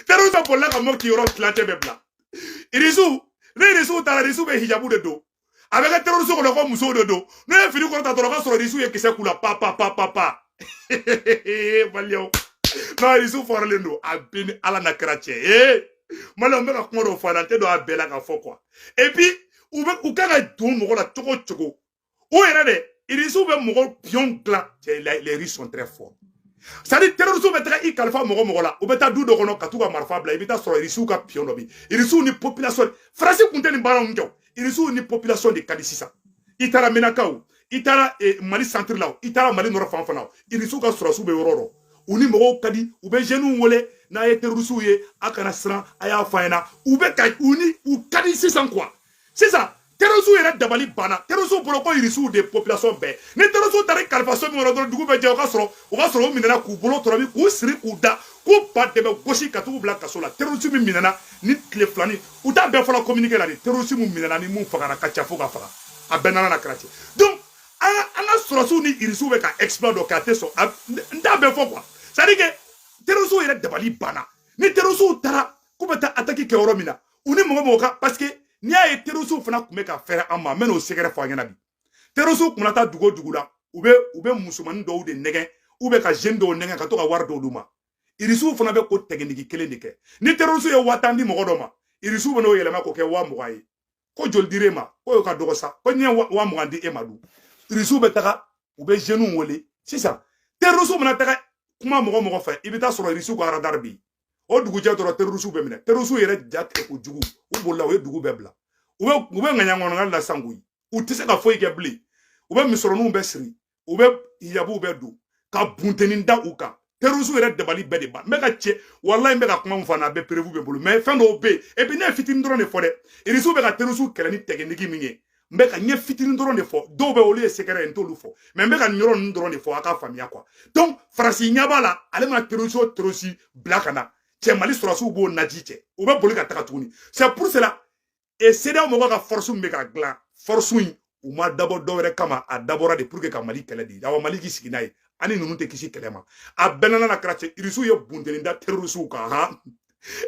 terrorisiw bolila ka mɔti yɔrɔ tilancɛ bɛɛ bila irisiw ni irisiw taara irisiw bɛ hijabu de don a bɛ kɛ terrorisiw kɔnɔ ko musow de don n'u ye fini kɔrɔta dɔrɔn ka sɔrɔ irisiw ye kisɛ k'u la pa pa pa pa pa maliyɛnw n'a irisiw faralen don a bɛ n ni ala n'a kira cɛ ye maliyɛnw bɛ ka kuma dɔw fɔ a la n tɛ don a bɛɛ la ka fɔ kuwa epi u bɛ u kan ka don mɔgɔ la cogo cogo o yɛrɛ de irisiw bɛ mɔgɔ piyɔn dilan les russes sont très forts c'est à dire terisiw bɛ taga i kalifa mɔgɔ mɔgɔ la u bɛ taa du dɔ kɔnɔ ka t'u ka marifa bila i bɛ t'a sɔrɔ irisiw ka piyɔn dɔ bi irisiw ni popilasɔn faransi kun tɛ nin baara ninnu kɛ irisiw ni popilasɔn de ka di sisan i taara menaka o i taara eh, mali santiri la i taara mali nɔrɔ fan fana o irisiw ka sɔrɔsiw bɛ yɔrɔ dɔ u ni mɔgɔw ka di u bɛ zeniw wele n'a ye terisiw ye a kana siran a y'a fɔ an ɲɛna u bɛ ka u ni u ka di sisan kuwa sisan terrorisiw yɛrɛ dabali banna terrorisiw bolo ko irisiw de population bɛɛ ni terrorisiw taara i kalifa so min kɔnɔ dɔrɔn dugu bɛ jɛ o ka sɔrɔ o ka sɔrɔ u minɛna k'u bolo tɔrɔbi k'u siri k'u da k'u ba dɛmɛ gosi ka t'u bila kaso la terrorisi min minɛna nin tile fila in u t'a bɛɛ fɔ communiqué la de terrorisi min minɛna ni min fagara ka ca fo ka faga a bɛ n ni ala n'a kira cɛ donc an ka an ka sɔrɔsiw ni irisiw bɛ ka exploit dɔ kɛ a tɛ sɔn n t'a bɛɛ fɔ quoi c'est à dire que terrorisiw yɛrɛ dabali banna ni terrorisiw taara k'u bɛ taa attaque kɛ yɔrɔ min na u ni mɔgɔ mɔgɔ ka paseke n'i y'a ye terisiw fana kun bɛ ka fɛɛrɛ an ma n bɛn'o sɛgɛrɛ fɔ aw ɲɛna bi terisiw kun na taa dugu o dugu la u bɛ u bɛ musomanin dɔw de nɛgɛn u bɛ ka zeni dɔw nɛgɛn ka to ka wari dɔw d'u ma irisiw fana bɛ o tɛgɛnigi kelen de kɛ ni terisiw ye waa tan di mɔgɔ dɔ ma irisiw bɛ n'o yɛlɛma k'o kɛ waa mugan ye ko joli dir'e ma ko y'o ka dɔgɔ sa ko n ye waa mugan di e ma dun irisiw bɛ taga u bɛ zeniw wele sisan terisiw mana taga kuma mɔgɔ mɔgɔ fɛ i bɛ t'a sɔrɔ irisiw ka aradari bɛ yen o dugujɛ dɔrɔn terisiw bɛ minɛ terisiw yɛrɛ ja tigɛ kojugu u bolila u ye dugu bɛɛ bila u bɛ u bɛ ŋaɲa kɔnɔna la sa koyi u tɛ se ka foyi kɛ bilen u bɛ misɔrɔninw bɛɛ siri u bɛ hijabuw bɛɛ don ka buntenin da u kan terisiw yɛrɛ dabali bɛɛ de ban n bɛ ka cɛ walayi n bɛ ka kuma min fɔ n'a bɛɛ perewu bɛ n bolo mɛ fɛn dɔw bɛ yen epi ne ye fitinin dɔrɔn de fɔ dɛ irisiw bɛ ka terisiw kɛlɛ ni tɛgɛnigi min ye n bɛ ka n ye fitinin dɔrɔn de fɔ dɔw bɛ olu ye sɛgɛrɛ ye n t'olu fɔ mɛ n bɛ ka nin yɔrɔ ninnu dɔrɔn de fɔ a k'a faamuya kuwa donc faransi ɲɛ b'a la ale mana terisi o terisi bila ka na cɛ mali sɔrɔsiw b'o naji cɛ u bɛ boli ka taga tuguni c'est pour cela e sedeyaw mɔgɔw ka fɔrisiw bɛ ka dilan fɔrisiw in u ma dabɔ dɔwɛrɛ kama a dabɔra de pour que ka mali kɛlɛ de awa mali k'i sigi n'a ye an ni ninnu tɛ kisi kɛlɛ ma a bɛ n ni ala n'a kira cɛ irisiw ye buntenin da terisiw kan han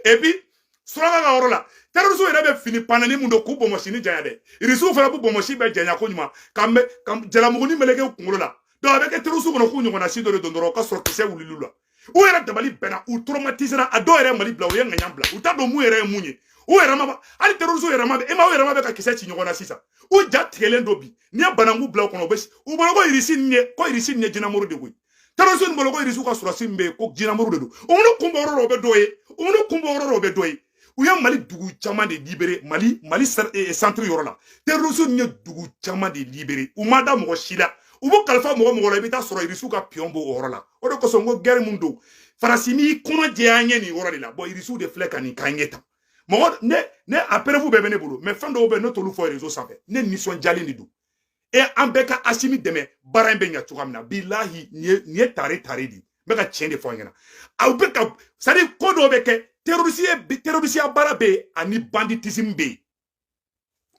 et puis suraka ka yɔrɔ la terroristes yɛrɛ bɛ fini panani min don k'u bonbonsinin janya dɛ irisiw fana b'u bonbonsi bɛɛ janya ko ɲuman ka jalamuguni meleke u kunkolo la donc a bɛ kɛ terroristes kɔnɔ k'u ɲɔgɔnna si dɔ de don dɔrɔn ka sɔrɔ kisɛ wulil'u la u yɛrɛ dabali banna u traumatisera a dɔw yɛrɛ mali bila u ye ŋaɲa bila u t'a dɔn mun yɛrɛ ye mun ye u yɛrɛ ma hali terroristes yɛrɛ ma e ma u yɛrɛ ma bɛ ka kisɛ ci ɲɔgɔn na sisan u ja tigɛlen don bi n'i ye bananku bila u kɔnɔ a bɛ u bolo ko irisi nin ye ko irisi nin ye jinɛmuru de koyi terorisiw bolo ko irisiw ka sɔrɔdasi min bɛ yen ko jinamuru de don o ni kunbɔ yɔrɔ dɔ bɛ dɔ ye o ni kunbɔ yɔrɔ dɔ bɛ dɔ ye u ye mali dugu caman de libere mali mali santiri yɔrɔ la terrorisme ni ye dugu caman de libere u ma da mɔgɔ si la u b'u kalifa mɔgɔ mɔgɔ la i bɛ taa sɔrɔ irisiw ka piyɔn b'o yɔrɔ la o de kosɔn n ko gɛri mun don faransi n'i kɔnɔ jɛya ɲɛ nin yɔrɔ de la bɔn irisiw de filɛ ka nin k'an ɲɛ ta mɔgɔ ne ne a preuve bɛɛ bɛ ne bolo mais fɛn dɔw bɛ ne t'olu fɔ réseau sanfɛ ne nisɔndiyalen de don e an bɛɛ ka asimi dɛmɛ baara in bɛ ɲɛ cogoya min na bilahi nin ye nin ye tare tare de ye n bɛ ka tiɲɛ de fɔ an ɲɛna aw bɛ ka c'est-à-dire ko dɔw bɛ kɛ terorisiya terorisiya baara bɛ yen ani banditism bɛ yen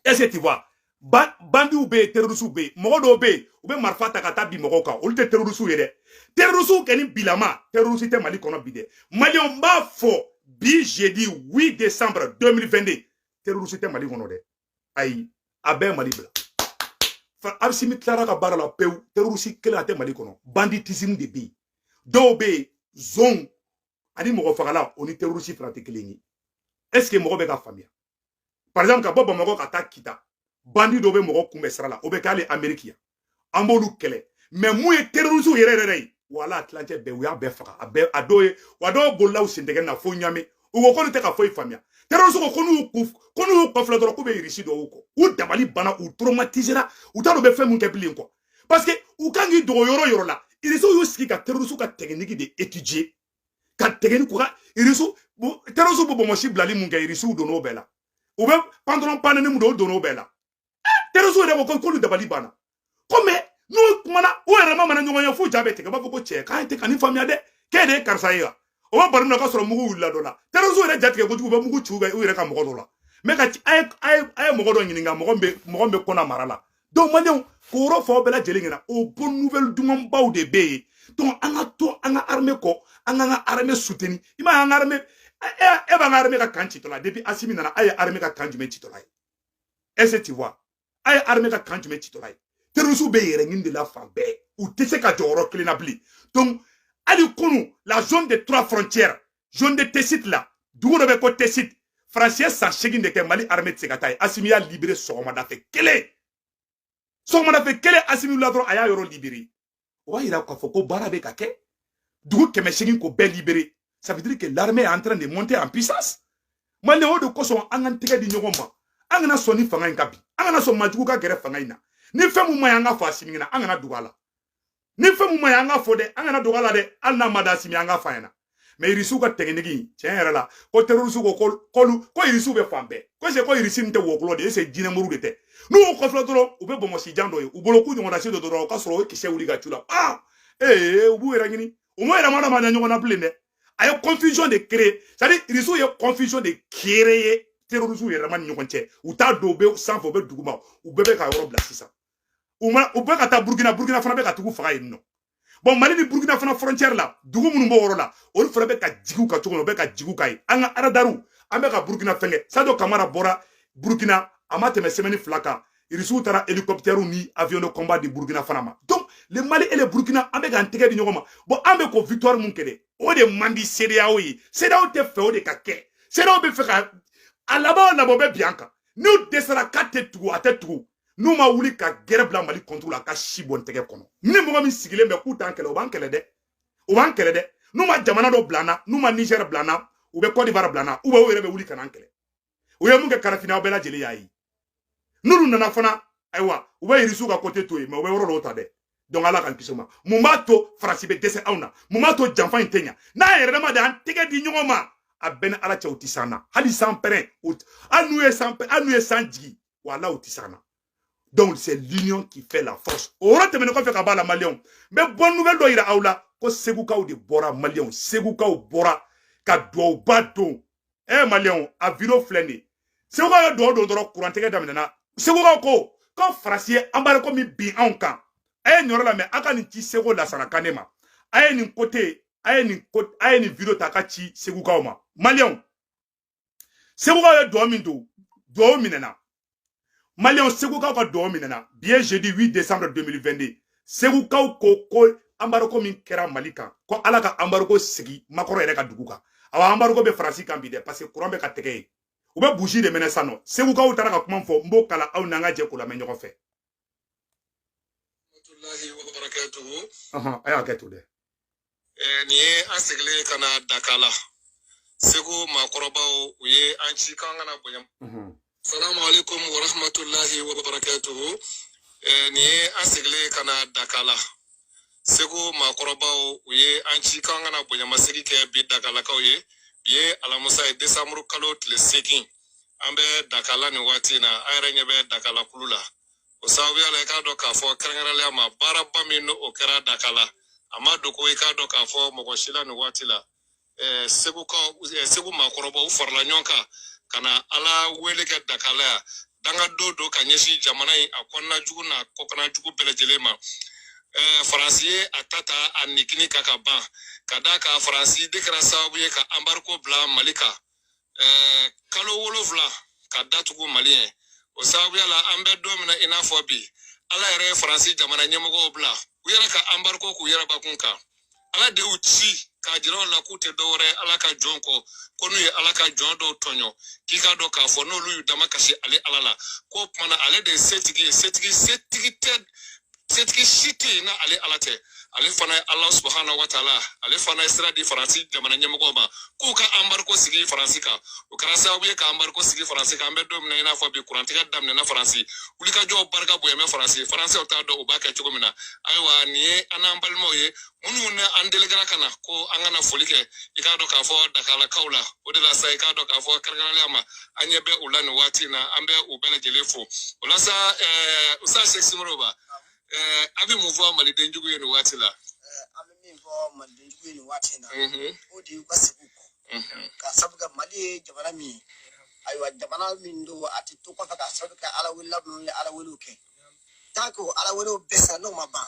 est-ce que tu vois bandiw bɛ yen terorisiw bɛ yen mɔgɔ dɔw bɛ yen u bɛ marifa ta ka taa bin mɔgɔw kan olu tɛ terorisiw ye dɛ terorisiw kɛ ni bilama terorisi tɛ mali kɔnɔ bi dɛ maliyɛnw b'a fɔ bi jeudi 8 décembre 2022 terorisi tɛ mali kɔnɔ dɛ ayi a bɛɛ ye mali bila asimi tilara ka baara la pewu terorisi kelen a tɛ mali kɔnɔ banditism de bɛ yen dɔw bɛ yen zonw ani mɔgɔ fagala o ni terorisi fana tɛ kelen ye est-ce que mɔgɔ bɛ ka faamuya par exemple ka bɔ bamakɔ ka taa kita bandi dɔ bɛ mɔgɔ kunbɛn sira la o bɛ kɛ hali ameriki yan an b'olu kɛlɛ mais min ye terrorisiw yɛrɛ yɛrɛ ye wala tilancɛ bɛɛ u y'a bɛɛ faga a bɛɛ a dɔw ye wa dɔw bolila u sentɛgɛ na fo ɲamɛ u ko k'olu tɛ ka foyi faamuya terrorisiw ko ko n'u ku ko n'u y'u kɔfilɛ dɔrɔn k'u bɛ irisi dɔw kɔ u dabali banna u traumatisera u t'a dɔn u bɛ fɛn min kɛ bilen quoi parce que u kan k'i dogo yɔrɔ yɔrɔ la irisiw y'u sigi ka terrorisiw ka tɛkiniki de étudier ka tɛkiniki u ka irisiw terrorisiw bɛ bonbonsi bilali mun kɛ irisiw donn'o bɛɛ la u bɛ pantalon panɛni mun don o donn'o bɛɛ la terorisiw yɛrɛ ko k'olu dabali banna ko mais n'u kumana u yɛrɛ ma mana ɲɔgɔn ye fo ja bɛ tigɛ u b'a fɔ ko cɛ k'an tɛ ka nin faamuya dɛ k'e de ye karisa ye wa o b'a baro min na k'a sɔrɔ mugu wulila dɔ la terorisiw yɛrɛ jatigɛ kojugu u bɛ mugu ci u yɛrɛ ka mɔgɔ dɔ la mɛ ka a ye mɔgɔ dɔ ɲininka mɔgɔ bɛ mɔgɔ bɛ kɔnɔ mara la donc maliyɛnw k'o yɔrɔ fɔ aw bɛɛ lajɛlen ɲɛna o bonne nouvelle dumanbaw de bɛ yen donc an ka to an ka armée kɔ an k'an ka armée soutenu i m'a ye an ka armée e b'an ka armée ka camp citɔla depuis asimi nana a ye armée ka camp jumɛn citɔla ye est-ce que tu vois a ye armée ka camp jumɛn citɔla ye terrorisiw b'u yɛrɛ ɲini de la fan bɛɛ u tɛ se ka jɔ yɔrɔ kelen na bilen donc hali kunu la zone des trois frontières zone de tesit la dugu dɔ bɛ ko tesit faransi ye san seegin de kɛ mali armée tɛ se ka taa yen asimi y'a libere sɔgɔmada fɛ kelen sɔgɔmada fɛ kelen asimi la dɔrɔn a y'a yɔrɔ libere o b'a yira k'a fɔ ko baara bɛ ka kɛ dugu kɛmɛ seegin ko bɛɛ libere ça veut dire que l'armée est en train de monter en puissance maliyɛnw o de kosɔn an k'an tɛgɛ di ɲɔgɔn ma an kana sɔn ni fanga in ka bin an kana sɔn majugu ka gɛrɛ fanga in na ni fɛn min ma ɲɛ an k'a fɔ asimi ɲɛna an kana dogo a la ni fɛn mun ma ɲa an k'a fɔ dɛ an kana dogo a la dɛ hali n'a man di asimi an k'a f'a ɲɛna mais irisiw ka tɛkiniki tiɲɛ yɛrɛ la ko terorisiw ko k'olu ko irisiw bɛ fan bɛɛ ko se ko irisi nin tɛ wɔkulɔ de ye se jinɛmuru de tɛ n'u y'u kɔfilɛ dɔrɔn u bɛ bonbonsijan dɔ ye u bolo k'u ɲɔgɔnna si don dɔrɔn o ka sɔrɔ o kisɛ wuli ka cun u la aa ee u b'u yɛrɛ ɲini u ma yɛrɛ ma dama ɲɛ ɲɔgɔn na bilen dɛ a ye confusion de créer c'est à dire irisiw ye confusion de créer terorisiw yɛrɛ ma ni ɲɔgɔn cɛ u t'a don u bɛ sanfɛ u bɛ duguma u bɛɛ bɛ ka yɔrɔ bila sisan u ma u bɛ ka taa burukina burukina fana bɛ ka tugu faga yen nɔ bon mali ni burukina fana frontiɛri la dugu minnu b'o yɔrɔ la olu fana bɛ ka jigi u kan cogo min u bɛ ka jigi u kan yen an ka aradariw an bɛ ka burukina fɛnkɛ sajo kamara bɔra burukina a ma tɛmɛ sɛmɛni fila kan irisiw taara helicoptɛriw ni avion de combat di burukina fana ma donc le mali et le burkina an bɛ k'an tɛgɛ di ɲɔgɔn ma bon an bɛ ko victoire mun kɛ dɛ o de man di sedeyaw ye sedeyaw tɛ fɛ o de ka kɛ sedeyaw bɛ fɛ ka a laban o laban u bɛ bin an kan n'u dɛsɛra k'a tɛ tugu a tɛ tugu n'u ma wuli ka gɛrɛ bila mali contre la ka si bɔ n tɛgɛ kɔnɔ ni mɔgɔ min sigilen bɛ k'u t'an kɛlɛ u b'an kɛlɛ dɛ u b'an kɛlɛ dɛ n'u ma jamana dɔ bila an na n'u ma nizɛri bila an na u bɛ kɔdiwari bila an na u bɛ u yɛrɛ bɛ wuli ka n'an kɛlɛ u ye mun kɛ kadafi na aw bɛɛ lajɛlen y'a ye n'olu nana fana ayiwa u bɛ irisiw ka kote to yen mais u bɛ yɔrɔ dɔw ta dɛ donc ala k'an kisi o ma mun b'a to faransi bɛ dɛsɛ anw na mun b'a to janfa in tɛ ɲa n'an yɛrɛ dama de an tɛgɛ di ɲɔgɔn ma a bɛ n ni ala cɛ u tɛ se an na hali san pɛrɛn hali n'u ye san hali n'u ye san jigin wala u tɛ se an na donc c'est l'union qui fait la force o yɔrɔ tɛmɛnen kɔfɛ ka b'a la maliyɛnw n bɛ bonne nouvelle dɔ yira aw la ko segukaw de bɔra maliyɛnw segukaw bɔra ka dugawuba don ɛ eh, maliyɛnw a video filɛ nin ye segukaw ye dugawu don dɔrɔn kurantigɛ daminɛna segukaw ko ko faransi ye anbariko min bin anw kan a ye nin yɔrɔ lamɛn a ka nin ci segu lasana kanɛ ma a ye nin kote a ye nin ko a ye nin video ta a ka ci segukaw ma maliyɛnw segukaw ye dugawu min don dugawu minɛna maliyɛnw segukaw ka dugawu minɛna bi ye jeudi 8 décembre 2022 segukaw ko ko anbariko min kɛra mali kan ko ala ka anbariko sigi makɔrɔn yɛrɛ ka dugu kan awa anbariko bɛ faransi kan bi dɛ parce que kuran bɛ ka tigɛ yen u bɛ buji de mɛnɛ san nɔ segukaw taara ka kuma fɔ n b'o kalan aw n'an ka jɛ k'o lamɛn ɲɔgɔn fɛ a ye hakɛ to dɛ nin ye an seginlen ye ka na dakala segu maakɔrɔbaw u ye an ci k'an ka na bonya salamualeykum warahmatulahi wabarakatuhu nin ye an seginlen ye ka na dakala segu maakɔrɔbaw u ye an ci k'an ka na bonyamasegin kɛ bi dakalakaw ye bi ye alamusa ye desanburu kalo tile seegin an bɛ dakala nin waati in na an yɛrɛ ɲɛ bɛ dakala kulu la o sababuya la i k'a dɔn k'a fɔ kɛrɛnkɛrɛnnenya ma baaraba min n'o kɛra dakala a ma dogo i k'a dɔn k'a fɔ mɔgɔ si la nin waati la ɛɛ segukaw ɛɛ segu maakɔrɔbaw u farala ɲɔgɔn kan ka na ala wele kɛ dakala yan danga de don ka ɲɛsin jamana in a kɔnɔna jugu n'a kɔkana jugu bɛɛ lajɛlen ma ɛɛ faransi ye a ta ta a nigini kan ka ban ka d'a kan faransi de kɛra sababu ye ka anbariko bila mali kan kalo wolonwula ka datugu maliyɛn o sababuya la an bɛ don min na i n'a fɔ bi ala yɛrɛ ye faransi jamana ɲɛmɔgɔw bila u yɛrɛ ka anbariko k'u yɛrɛ bakun kan ala de y'u ci k'a jira u la k'u tɛ dɔwɛrɛ ala ka jɔn kɔ ko n'u ye ala ka jɔn dɔw tɔɲɔ k'i k'a dɔn k'a fɔ n'olu y'u dama kasi ale ala la k'o kuma na ale de ye setigi ye setigi setigi tɛ setigi si tɛ yen n'ale ala tɛ ale fana ye ala subahana wa taala ale fana ye sira di faransi jamana ɲɛmɔgɔw ma k'u ka anbariko sigi faransi kan o kɛra sababu ye ka anbariko sigi faransi kan an bɛ don min na i n'a fɔ bi kurantigɛ daminɛna faransi wulikajɔw barika bon yen mɛ faransi faransiw t'a dɔn u b'a kɛ cogo min na ayiwa nin ye an n'an balimaw ye minnu ni an delegera ka na ko an ka na foli kɛ i k'a dɔn k'a fɔ dakalakaw la o de la sa i k'a dɔn k'a fɔ kɛrɛnkɛrɛnnenya ma an ɲɛ bɛ u la nin waati in na an bɛ u bɛɛ lajɛlen fo o la sa ɛɛ usa sɛk simoro ba ɛɛ a bɛ mun fɔ maliden jugu ye nin waati la. an bɛ min fɔ maliden jugu ye nin waati in na o de y'u ka segin kɔ ka sabu kɛ mali ye jamana min ye ayiwa jamana min don a tɛ to kɔfɛ ka sabu kɛ ala wele la minnu ye ala welew kɛ tant que ala welew bɛɛ sera n'o ma ban.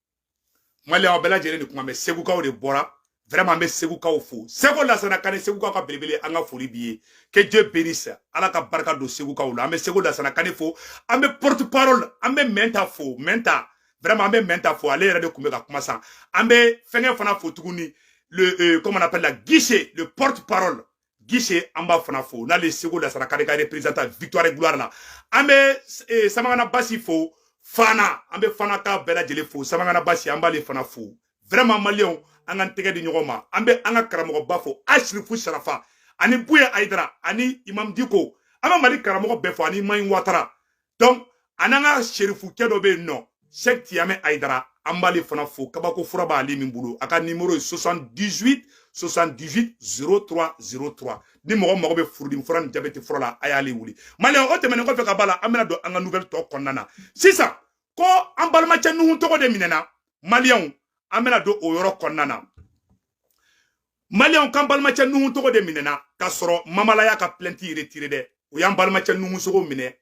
mali aw bɛɛ lajɛlen de kuma mɛn segukaw de bɔra vraiment an bɛ segukaw fo seko lasana kane segukaw ka belebele an ka foli b'i ye que dieu bénisse ala ka barika don segukaw la an bɛ seko lasana kane fo an bɛ porte parole an bɛ mɛnta fo mɛnta vraiment an bɛ mɛnta fo ale yɛrɛ de tun bɛ ka kuma san an bɛ fɛnkɛ fana fo tuguni le euh, comment on appelle là gise le porte parole gise an b'a fana fo n'ale seko lasana kane ka représentant victoire et gloire la an bɛ eh, samagana basi fo fana an bɛ fanakaw bɛɛ lajɛlen fo samagana basi an b'ale fana fo vraiment maliyɛnw an k'an tɛgɛ di ɲɔgɔn ma an bɛ an ka karamɔgɔba fo asirifu sarafa ani buye ayidara ani imam diko an bɛ mali karamɔgɔ bɛɛ fo ani mahi watara donc an n'an ka serifukɛ dɔ bɛ yen n'o sɛk tiyamɛ ayidara an b'ale fana fo kabako fura b'ale min bolo a ka nimoro ye 78 78 03 03 ni mɔgɔ mago bɛ furudimi fura ni jabɛti fura la a y'ale wele maliyɛn o tɛmɛnen kɔfɛ ka b'a la an bɛna don an ka nouvelle tɔ kɔnɔna na sisan ko an balimacɛ nuhun togo de minɛna maliyɛnw an bɛna don o yɔrɔ kɔnɔna na maliyɛnw k'an balimacɛ nuhun togo de minɛna k'a sɔrɔ mamala y'a ka plainte retirer dɛ u y'an balimacɛ nuhun togo minɛ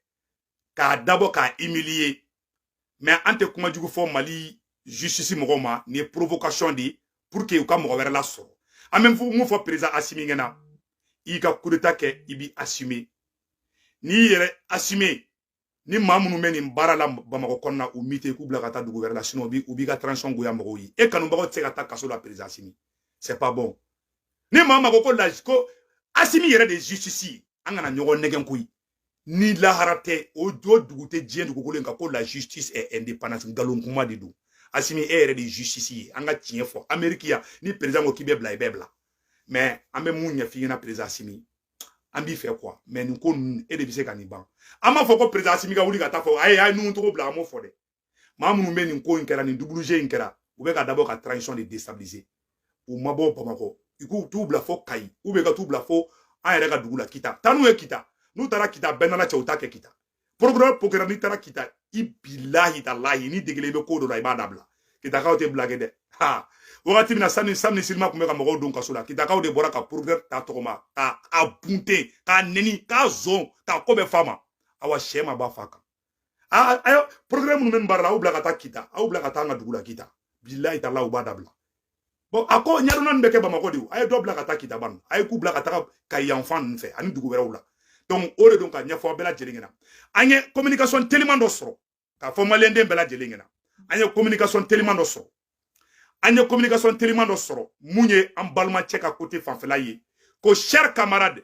k'a dabɔ k'a humilier mais an tɛ kuma jugu fɔ mali justice mɔgɔw ma nin ye provocation de ye pour que u ka mɔgɔ wɛrɛ lasɔrɔ an bɛ mun fɔ président asimi ɲɛna i ka kudeta kɛ i b'i assumer n'i yɛrɛ assumer ni maa minnu bɛ nin baara la bamakɔ kɔnɔna u muter k'u bila ka taa dugu wɛrɛ la sinon u b'i ka transition goya mɔgɔw ye e kanubagaw tɛ se ka taa kaso la président asimi c'est pas bon ni maa min ko ko laji ko asimi yɛrɛ de ye justice ye an kana ɲɔgɔn nɛgɛn koyi ni lahara tɛ o dugu tɛ diɲɛ dugukolo in kan ko la justice est indépendance nkalon kuma de don asimi e yɛrɛ de ye justice ye an ka tiɲɛ fɔ ameriki yan ni président ko k'i bɛ bila i bɛ bila mais an bɛ mun ɲɛf'i ɲɛna président asimi an b'i fɛ quoi mais nin ko ninnu e de bɛ se ka nin ban an m'a fɔ ko président asimi ka wuli ka taa fɔ a ye nuhun togo bila an m'o fɔ dɛ maa minnu bɛ nin ko in kɛra nin double jeu in kɛra u bɛ ka dabɔ ka transition de destabiliser u mabɔ bamakɔ i ka t'u bila fo kayi ou bien ka t'u bila fo an yɛrɛ ka dugu la kita taa n'u ye kita n'u taara kita bɛɛ nana cɛ u t'a kɛ kita procureur procureur n'i taara kita i bilahi talahi n'i degelen bɛ ko dɔ la i b'a dabila kitakaw tɛ blague dɛ ha wagati min na sani sani silima tun bɛ ka mɔgɔw don kaso la kitakaw de bɔra ka procureur ta tɔgɔma k'a bunte k'a neni k'a zon k'a ko bɛɛ f'a ma awa sɛ ma ba fa kan a ayo procureur minnu bɛ nin baara la aw bila ka taa kita aw bila ka taa an ka dugu la kita bilahi talahi u b'a dabila bon a ko ɲɛdɔnna nin bɛ kɛ bamakɔ de a ye dɔ bila ka taa kita ban a ye k'u bila ka taga kayi yanfan ninnu fɛ ani dugu wɛrɛw la donc o de don ka ɲɛfɔ aw bɛɛ lajɛlen ɲɛna an ye communication teliman dɔ sɔrɔ k'a fɔ maliyɛnden bɛɛ lajɛlen ɲɛna an ye communication teliman dɔ sɔrɔ an ye communication teliman dɔ sɔrɔ mun ye an balimacɛ ka kote fanfɛla ye ko cher camarade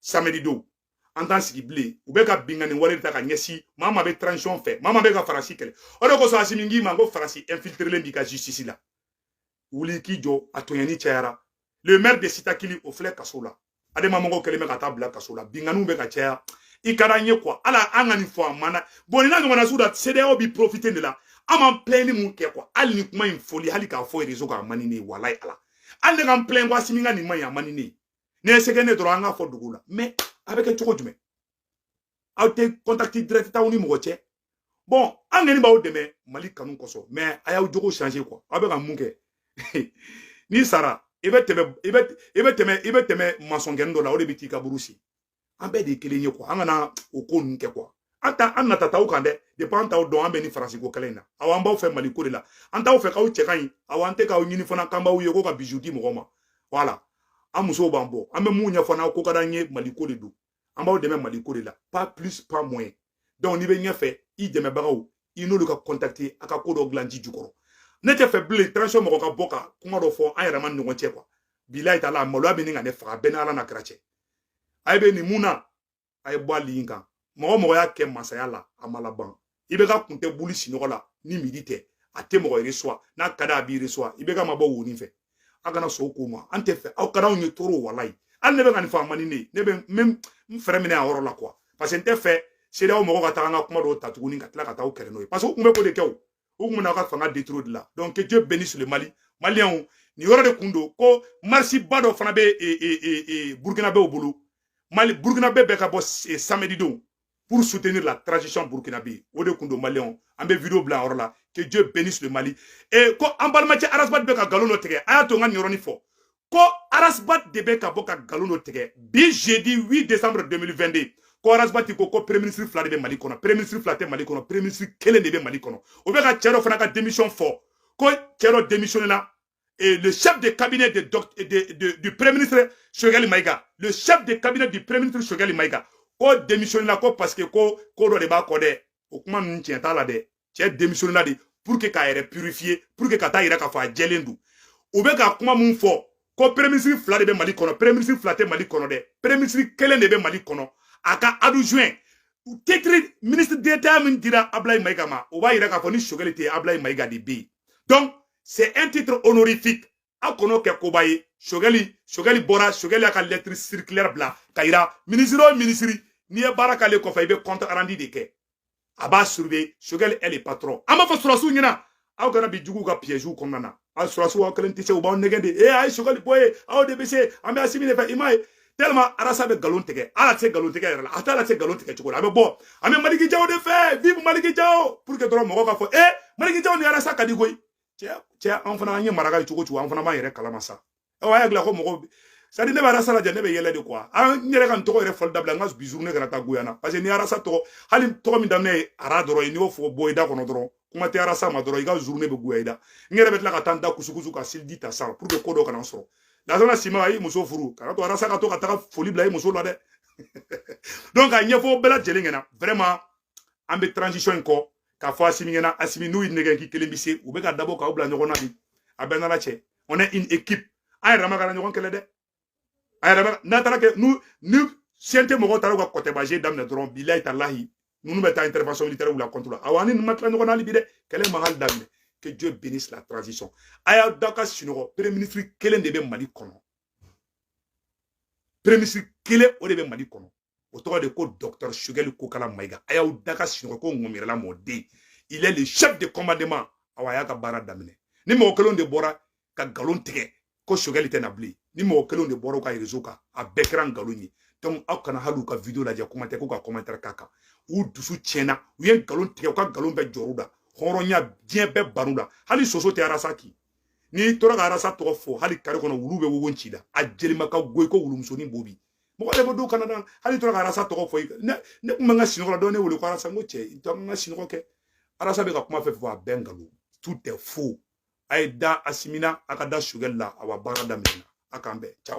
samedi don an t'an sigi bilen u bɛ ka binkanni wale ta ka ɲɛsin maa min bɛ transition fɛ maa min bɛ ka farasi kɛlɛ o de kosɔn asimi n k'i ma ko farasi infiltrelen b'i ka justice la wuli k'i jɔ a tɔɲɔni cayara le maire de sitakili o filɛ kaso la adama mɔgɔw kɛlen bɛ ka taa bila kaso la binkanniw bɛ ka caya i ka d'an ye quoi ala an ka nin fɔ a mana bɔn nin na ɲɔgɔnna sugu la cedeao bɛ profiter de la an b'an plɛn ni mun kɛ quoi hali ni kuma in fɔli hali k'a fɔ rezo kan a man di ne ye walayi ala hali ne ka n plɛn ko asimi ka nin man ɲi a man di ne ye ne ye sɛgɛn ne dɔrɔn an k'a fɔ dogo la mais a bɛ kɛ cogo jumɛn aw tɛ contact direct t'aw ni mɔgɔ cɛ bon an kɔni b'aw dɛmɛ mali kanu kosɔn mais a y'aw jogo changer quoi aw bɛ ka mun kɛ n'i sara i i bɛ tɛmɛ masɔnkɛnin dɔ la o de bɛ t'i kaburu sen an bɛɛ de ye kelen ye quoi an kana o ko ninnu kɛ quoi an t'an nata t'aw kan dɛ depuis an t'aw dɔn an bɛ nin faransi ko kɛlɛ in na aw an b'aw fɛ mali ko de la an t'aw fɛ k'aw cɛ ka ɲi aw an tɛ k'aw ɲini fana k'an b'aw ye ko ka bisou di mɔgɔ ma voilà an musow b'an bolo an bɛ mun ɲɛfɔ n'aw ko ka d'an ye mali ko de don an b'aw dɛmɛ mali ko de la pas plus pas moins donc n'i bɛ ɲɛfɛ i dɛmɛbagaw i n'olu ka contacter a ka ko dɔ dilan ji jukɔrɔ ne tɛ fɛ bilen transition mɔgɔ ka bɔ ka kuma dɔ fɔ an yɛrɛ ma ɲɔgɔn cɛ quoi bilayi tala maloya bɛ ɲini ka ne faga bɛɛ ni ala n'a kira cɛ a ye bɛ nin mun na a ye bɔ a ligne kan mɔgɔ o mɔgɔ y'a kɛ masaya la a ma laban IBK kun tɛ wuli sinɔgɔ la ni midi tɛ a tɛ mɔgɔ reçoit n'a ka di a b'i reçoit IBK ma bɔ wonin fɛ a kana sɔn ko ma an tɛ fɛ aw ka anw yɛrɛ tɔɔrɔ walayi hali ne bɛ ka nin fɔ a man di ne ne bɛ n n frein minɛ a yɔrɔ la quoi parce que n tɛ fɛ CEDEAO mɔgɔ ka taa an ka kuma dɔw ta tuguni ka tila ka taa aw kɛlɛ n'o ye parce que u kun bɛ k'o de kɛ o u kun bɛna a ka fanga détruire de la donc que dieu bénisse le mali maliyɛnw nin yɔrɔ de kun don ko marisiba dɔ fana bɛ e, e, e, burukinabew bolo mali burukinabe bɛɛ ka bɔ samedi don pour soutenir la transition burkinabe o de kun don maliyɛnw an bɛ video bila a yɔrɔ la que dieu bénisse le mali e ko an balimacɛ arasibati bɛ ka nkalon dɔ tigɛ a y'a to n ka nin yɔrɔnin fɔ ko arasibati de bɛ ka bɔ ka nkalon dɔ tigɛ bi jeudi 8 décembre 2022 ko arasibati ko ko premier ministre fila de bɛ mali kɔnɔ premier ministre fila tɛ mali kɔnɔ premier ministre kelen de bɛ mali kɔnɔ o bɛ ka cɛ dɔ fana ka démission fɔ ko cɛ dɔ démissionné la et le chef de cabinet de, de, de, du premier ministre Choguel Maïga, le chef de cabinet du premier ministre Choguel Maïga, ko démissionné la ko parce que ko ko dɔ de b'a kɔ dɛ o kuma ninnu tiɲɛ t'a la dɛ cɛ démissionné la de pour que k'a yɛrɛ purifier pour que ka t'a yira k'a fɔ a jɛlen don u bɛ ka kuma min fɔ ko premier ministre fila de bɛ mali kɔnɔ premier ministre fila tɛ mali kɔnɔ dɛ premier ministre kelen de bɛ mali kɔnɔ a ka adjoint titre ministre d'état min dira ablayi mayiga ma o b'a yira k'a fɔ ni sogɛli tɛ ablayi mayiga de bɛ yen donc c'est un titre honorifique a kana kɛ koba ye sogɛli sogɛli bɔra sogɛli y'a ka lettre circulaire bila k'a yira minisiri o minisiri n'i ye baara k'ale kɔfɛ i bɛ compte rendu de kɛ a b'a surveiller sogɛli est le patron an b'a fɔ sɔrɔsiw ɲɛna aw kana bin juguw ka piyɛziw kɔnɔna na aw sɔrɔsiw aw kelen tɛ se u b'aw nɛgɛn de e a ye sogɛli bɔ yen aw de bɛ se an bɛ asimi de fɛ i m'a ye tellement arasa bɛ nkalon tigɛ hali a tɛ se nkalon tigɛ yɛrɛ la a tɛ hali se nkalon tigɛ cogo la a bɛ bɔ an bɛ maliki jaw de fɛ vive maliki jaw pour que dɔrɔn mɔgɔ ka fɔ e maliki jaw ni arasa ka di koyi cɛ an fana an ye maraka ye cogo o cogo an fana b'an yɛrɛ kalama sa aw y'a dilan ko mɔgɔ c'est-à-dire ne bɛ arasa lajɛ ne bɛ yɛlɛ de quoi an n yɛrɛ ka nin tɔgɔ yɛrɛ fɔli dabila n ka bi journée kana taa goya n na parce que ni arasa tɔgɔ hali tɔgɔ min daminɛ ye ara dɔrɔn ye n'i y'o fɔ bɔ i da kɔnɔ dɔrɔn kuma tɛ arasa ma dɔrɔn i ka journée bɛ goya i la n yɛrɛ bɛ tila ka taa n da kusukusu ka seliji ta sa pour que ko dɔ kana n sɔrɔ lasana sima a y'i muso furu kan'a to arasa ka to ka taga foli bila i muso la dɛ donc a ɲɛfɔ bɛɛ lajɛlen ɲɛna vraiment an bɛ transition in kɔ k'a fɔ asimi ɲɛna asimi n'u y'i nɛgɛ k'i kelen bi se u bɛ ka dabɔ k'aw bila ɲɔgɔn na bi a bɛɛ nana cɛ on est une équipe an yɛrɛ ma kana ɲɔgɔn kɛlɛ dɛ a yɛrɛ ma n'a taara kɛ n'u ni CNT mɔgɔw taara u ka kɔtɛbaje daminɛ dɔrɔn bilayi talahi ninnu bɛ taa intervention militaire la contre la awa ni ninnu ma tila ɲɔgɔn na hali bi dɛ kɛlɛ ma hali daminɛ que Dieu bénisse la transition a y'aw da ka sunɔgɔ premier ministre kelen de bɛ Mali kɔnɔ premier ministre kelen o de bɛ Mali kɔnɔ o tɔgɔ de ko docteur Choguel Kokalla Maïga a y'aw da ka sunɔgɔ ko ŋɔmiyɛrɛla mɔden il est le chef de commandement awa a y'a ka baara daminɛ ni mɔgɔ kelen de bɔra ka nkalon tigɛ ko Choguel tɛ na bilen ni mɔgɔ kelen de bɔra u ka réseau kan a bɛɛ kɛra nkalon ye donc aw kana hali u ka vidéo lajɛ kuma tɛ ko ka commentaire k'a kan u dusu tiɲɛna u ye nkalon tigɛ u ka nkalon bɛɛ jɔr'u la hɔrɔnya diɲɛ bɛɛ bann'u la hali soso tɛ arasa kin n'i tora ka arasa tɔgɔ fɔ hali kare kɔnɔ wulu bɛ wowo ci la a jelima ka go i ko wulumusonin bobi mɔgɔ de bɛ don Canada hali tora ka arasa tɔgɔ fɔ i ne ne kun bɛ n ka sinɔgɔ la dɔ ne wele ko arasa n ko cɛ i to n ka sinɔgɔ kɛ arasa bɛ ka kuma fɛn fɛn fɔ a bɛɛ nkalon tout est faux a ye da asimi na a ka da Choguel la awa baara daminɛna a k'an bɛn ciao